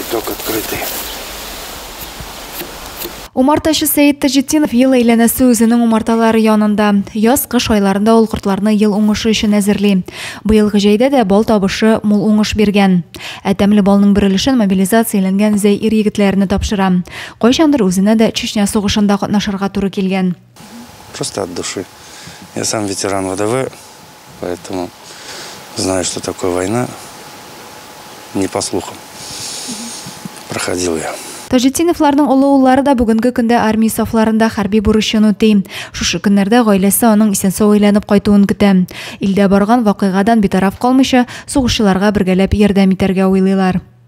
Виток открытый. Умартачы Сәет Таҗетдинов ел әйләнәсе үзенең умарталары янында. Яз, кыш айларында ул кортларны ел уңышы өчен әзерли. Быелгы җәйдә дә бал табышы мул уңыш биргән. Ә тәмле балның бер өлешен мобилизацияләнгән зәй ир-егетләренә тапшыра. Кайчандыр үзенә дә Чечня сугышында катнашырга туры килгән. Просто от души. Я сам ветеран ВДВ, поэтому знаю, что такое война. Не по слухам. Проходил я. Таҗетдиновларның олы уллары да бүгенге көндә армия сафларында хәрби бурычын үти. Шушы көннәрдә гаиләсе аның исән-сау әйләнеп кайтуын көтә. Илдә барган вакыйгадан битараф калмыйча, сугышчыларга бергәләп ярдәм итәргә уйлыйлар.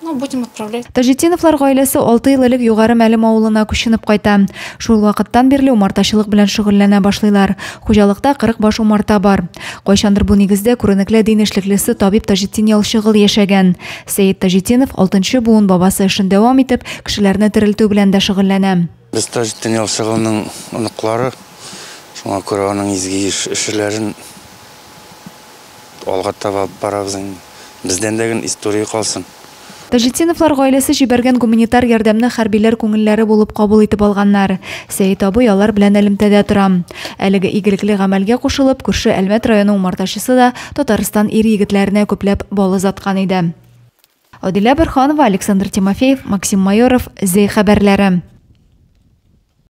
Ну, будем отправлять. Таҗетдиновлар гаиләсе алты ел элек Югары Мәлем авылына күченеп кайта. Шул вакыттан бирле умартачылык белән шөгыльләнә башлыйлар. Хуҗалыкта 40 баш умарта бар. Кайчандыр бу нигездә күренекле дин эшлеклесе табиб Таҗетдин Ялчыгыл яшәгән. Сәет Таҗетдинов, алтынчы буын бабасы эшен дәвам итеп, кешеләрне терелтү белән дә шөгыльләнә. Без Таҗетдин Ялчы улының оныклары, шуңа күрә аның изге эшләрен алга таба алып барабыз инде. Бездән дә гел история калсын. Таҗетдиновлар гаиләсе җибәргән гуманитар ярдәмне хәрбиләр күңелләре булып кабул итеп алганнар. Сәет абый алар белән элемтәдә тора. Әлеге игелекле гамәлгә кушылып, күрше Әлмәт районы умартачысы да Татарстан ир-егетләренә күпләп бал озаткан иде. Адилә Борханова, Александр Тимофеев, Максим Майоров, зе хәбәрләре.